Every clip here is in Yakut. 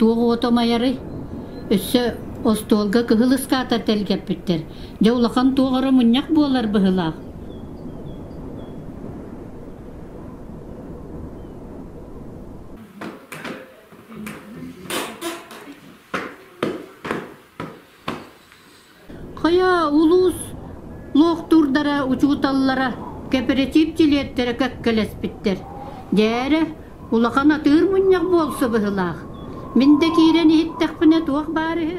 Туох ото майары? Өссө остуолга кыһыл ыскаата тэлгэппиттэр. Дьэ улахан туох оро мунньах буолар быһылаах. Хайа улуус лоохтуурдара учууталлара кэпэрэтиип дьилиэттэрэ кэккэлэспиттэр. Дээрэ, улахан атыыр мунньах буолса быһыылаах. Мин да киирэн иһиттэхпинэ туох баар үһү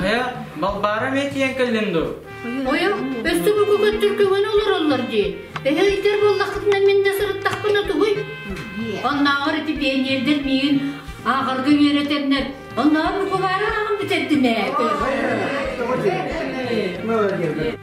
Хайа, балбаара метиен кэллин ду? Ойо, өстө бүгү көттүккүгүн олороллор дии. Эһэ өйтөр боллахытына мин да сырыттахпына тугуй? Оннааҕар ити пионердер миигин ааҕарга үөрэтэннэр, оннааҕар букулаары ааҕан бүтэрдим ээ. Молодец.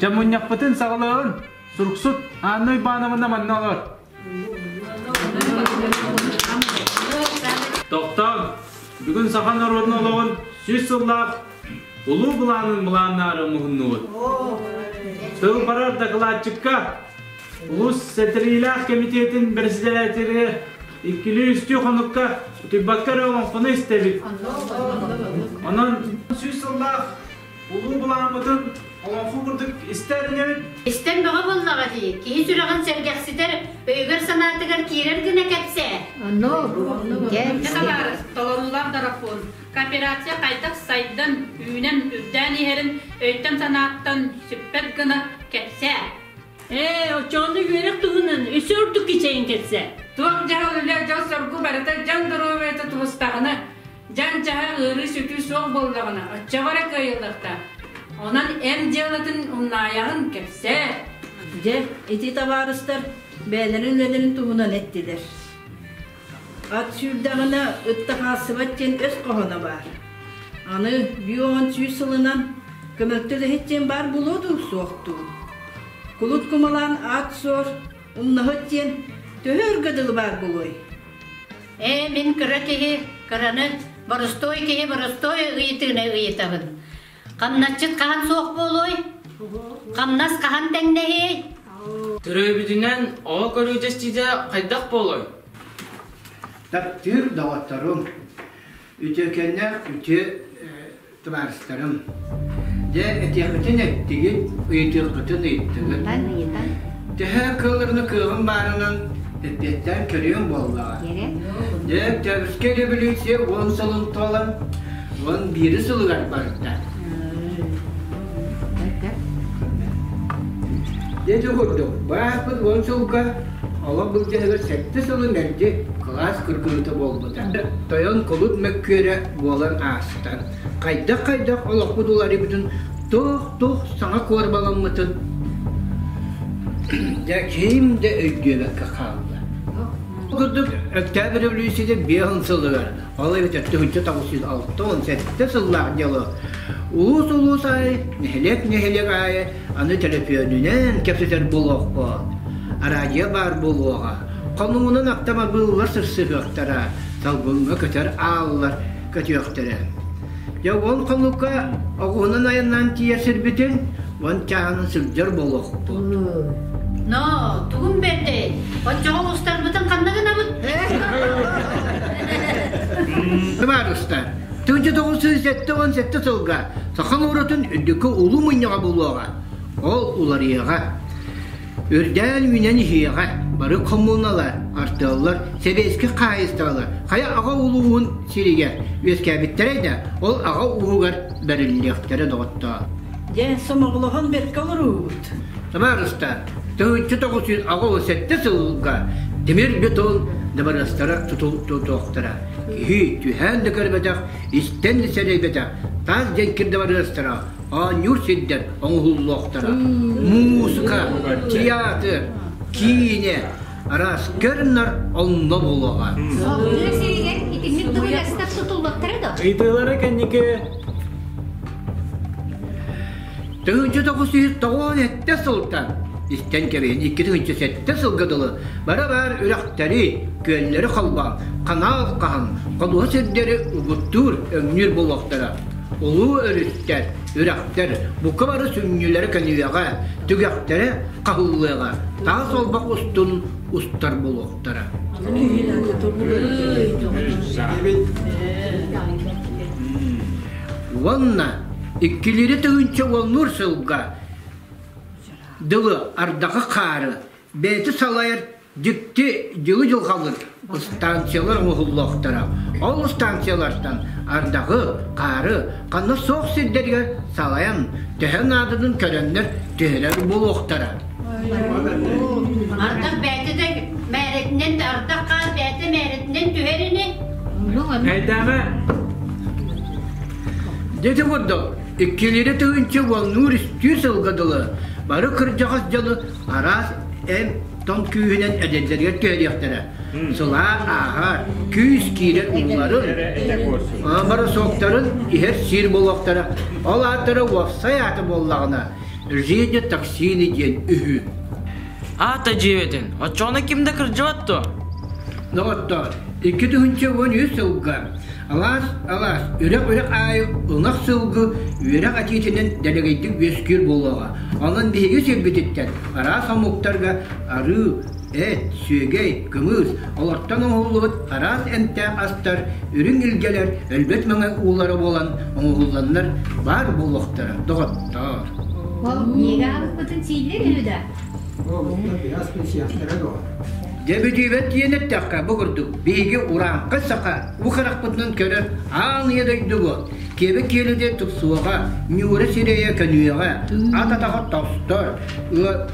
Чамунньахпытын саҕалаҕын. Суруксут Анна Ивановна манна олор. Тохтоон, бүгүн саха норуотун олоҕун сүүс сыллаах улуу былаанын былааннаары муһуннубут. Тыл барар дакылаатчыкка Улус сэтриилээх кэмитиэтин председателі иккилии үстүү хонукка утуйбакка эрэ оҥоҥхону истэбит. Онон сүүс сыллаах улуу былааммытын олоҥхо курдук истэринэбит. Истэн бөҕө буоллаҕа дии, киһи сүрэҕин сэргэхситэр, өйүгэр-санаатыгар киирэр гына кэпсээ. Табаар, толоруулаах доропуон, кооперация хайдах сайдан, үүнэн, үрдээн иһэрин өйтөн-санааттан сүппэт гына кэпсээ. Ээ, оччоҕуна үөрэх туһунан өссө ордук кичэйин кэтсэ. Туох дьаһал үлэ дьол-соргу барыта дьан доруобуйата тубустаҕына, дьан-дьаһа ыарыы-сүтүү суох буоллаҕына, оччоҕо эрэ кыайыллахтаах. Онон эн дьыалатын умнаайаҕын кэпсээ. Дьэ, ити табаарыстар бэйэлэрин үлэлэрин туһунан эттилэр. Ат сүүрдэҕинэ ытта хаалсыбат диэн өс хоһооно баар. Аны биир уон сүүс сылынан көмөлтөт иһит диэн баар булуо дуу, суох дуу? Кулут кумалаан аат суор, умнаһыт диэн төһө өргө дылы баар булуой? Ээ, мин кыра киһи кыраны боростуой киһи боростуой ыйытыыны ыйытабын. Хамначчыт хаһан суох буолуой? Хамнас хаһан тэҥнэһиэй? Төрөөбүтүнэн оҕо көрүү дьэстиитэ хайдах буолуой? Таптыыр доҕотторум, үтүөкэннээх үтүө табаарыстарым. Дьэ, этиэххитин эттигит, ыйытыаххытын ыйыттыгыт. Төһө кыылларны кыаҕым баарынан эппиэттээн көрүөҥ буоллаҕа. Дьэ, Өктөөбүскэ революция уон сылын туолан, уон биирис сылыгар барда. Дьэ, курдук, бааппыт уон сылга олох былдьаһыгар сэттэ сылы мэлдьи кылаас кыргыһыыта буолбута. Тойон кулут мөккүөрэ буолан аастан, хайдах-хайдах олохпут уларыйбытын туох-туох саҥа куорбаламмытын дьэ ким да өйдүөбэккэ хаалла. Ол курдук Октябрь революцияда биэһин сылыгар, ол эбэтэр түһүнчэ тоҕус жүз алта уон сэттэ сыллаах дьылы улуус-улуус аайы, нэһилиэк-нэһилиэк аайы аны төлөпүөнүнэн кэпсэтэр буолуохпут, араадьыйа баар буолуоҕа, хонуунан автомобиллар сырсыһыахтара, салгыҥҥа көтөр ааллар көтүөхтэрэ. Дьэ ол хонукка оҕуһунан айаннаан тиийэр сирбитин уон чааһын сылдьар буолуохпут. Ноо, тугун бэрдэй? Оччоҕо устарбытын ханна гынабыт? Сымаарыста, тыынча тоҕус сүүс сэттэ уон сэттэ сылга саха норуотун үрдүкү улуу мунньаҕа буолуоҕа. Ол уларыйыаҕа. Үрдээн үүнэн иһиэҕэ, бары хомуналар, артыаллар, сэбиэскэй хаһаайыстыбалар хайа аҕа улууһун сиригэр үөскээбиттэрэй да, ол аҕа ууһугар бэриллиэхтэрэ доҕоттоор. Дьэ, сомоҕолоһон бэркэ олоруубут. Табаарыстар, тыһыынча тоҕус сүүс аҕа уон сэттэ сылга тимир бетон дабарыастара тутулуохтара. Киһи түһээн да көрбөтөх, истэн да сэрэйбэтэх таас дьэҥкир дабарыастара оонньуур сирдэр оҥоһуллуохтара. Муусука, тыйаатыр, киинэ араас көрүнэр онно буолуоҕа. Салгыы сиригэр итинник дубуйастар тутуллуохтара да? Ыйытыылары кэнники Тыһыынча тоҕус жүз тоҕуон сэттэ сылтан истэн кэбиһин икки тыһыынча сэттэ сылга дылы бара баар үрэхтэри, күөллэри холбоон, ханаал хаһан, ходуһа сирдэри угуттуур, өҥнүүр буолуохтара. Улуу өрүттэр, үрэхтэр бука бары сүнньүлэрэ көнүөҕэ, түгэхтэрэ хаһыллыаҕа, таас олбох устун устар буолуохтара. Уонна иккилиирэ тыһыынча уоннуур сылга дылы ардахы хаары бэйэтэ салайар Дьикти дьылы-дьылҕалыр ыстаансыйалар оҥоһуллуохтара. Ол ыстаансыйалартан ардагы, хаары ханна суох сирдэригэр салайан, төһө наадатын көрөннөр түһэрэр буолуохтара. Ардах бэйэтэ да мээрэтинэн ардах хаар бэйэтэ мээрэтинэн түһэр ини. Эйдээҕэ. Дити курдук, иккилиирэ тыгынчы уоннуур-истүүр сылга дылы бары кырдьаҕас дьону араас эн тоҥ күүһүнэн эдэрдэригэр түһэриэхтэрэ. Сылаар ааһар, күүс киирэр ууларын, моросоктарын иһэр сиир буолуохтара. Ол ааттара уопсай ааты буоллаҕына, «Жизни токсины» диэн үһү. Аата дьиэбэтин, оччоҕуна ким да кырдьыбат дуо? Доҕоттоор, икки тыһыынча уон үс сылга Алаас, алаас, үрэх-үрэх аайы ынах сылгы үөрэх этиитинэн дэлэгэйдик үөскүүр буолуоҕа. Онон биһиги сирбититтэн араас омуктарга арыы, эт, сүөгэй, кымыыс, олортон оҥоһуллубут араас эмтээх астар, үрүҥ илгэлэр, өлбөт маҥай уулара буолан оҥоһулланнар баар буолуохтара доҕоттоор. Ол миэгэ ааспытын сииллэр үһү да? Дэ бүтүүбэт диэн эттэххэ, бу курдук биһиги урааҥхы саха Бу харахпытынан көрөр аан ийэ дойду бу. Киэбэ киэлэде тупсуоҕа, ньуура сирэйэ көнүөҕэ, ат атаҕа тостор,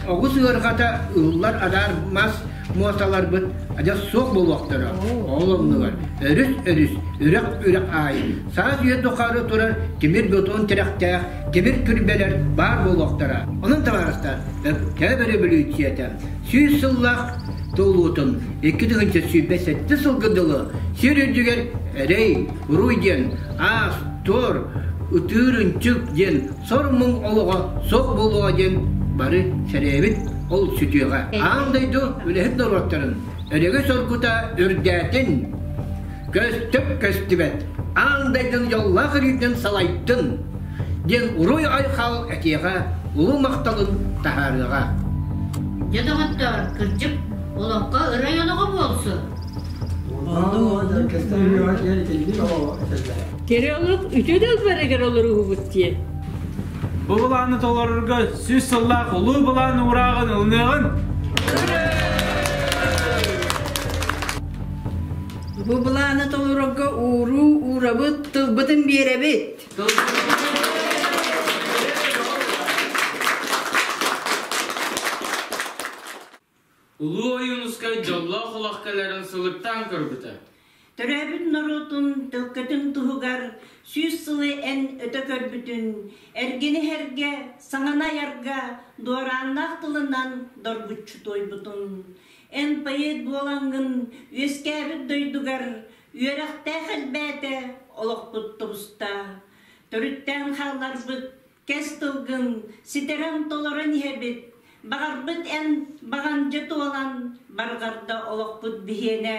оҕус ыарҕата ыллар адаар мас муоталарбыт адьас суох буолуохтара. Ол оннугар өрүс өрүс, үрэх үрэх аайы, саас үйэ тухары турар тимир бетон тирэхтээх тимир күрбэлэр баар буолуохтара. Онон табаарыстар, Өктөөп өрөбөлүүччүйэтэ Сүүс сыллаах туолуутун икки тыһыынча сүүрбэ сэттэ сылга дылы сир үрдүгэр эрэй, уруй диэн аас, туор, ытыыр ынчык диэн сор муҥ олоҕо суох буолуоҕа диэн бары сэрэйэбит ол сүтүөҕэ. Аан дойду үлэһит норуоттарын өрөгө-соргута үрдээтин! көстүп көстүбэт аан дайдын дьоллоох өрүүтүн салайтын диэн уруй айхал этиэҕэ улуу махталын таһаарыаҕа дьэ доҕоттор кырдьык олоххо ырай олоҕо буолсун Кирилов үтүө дылбарыгар олоруубут диэн Бу былааны толорорго сүүс сыллаах улуу былаан уурааҕын ылыныаҕын! Бу былааны толорорго ууруу уурабыт, тылбытын биэрэбит. Улуу Ойуунускай дьоллоох олох кэлэрин сылыктаан көрбүтэ. Төрөөбүт норуотун тылкытын туһугар сүүс сылы эн өтө көрбүтүн, эргини иһэргэ, саҥаны айарга дуорааннаах тылынан доргуччу туойбутун, Эн поэт буолаҥҥын үөскээбит дойдугар үөрэхтээх элбээтэ, олохпут тубуста. Төрүттээн хаалларбыт кэс тылгын ситэрэн-толорон иһэбит, баҕарбыт эн баҕандьы туолан барҕарда олохпут биһиэнэ.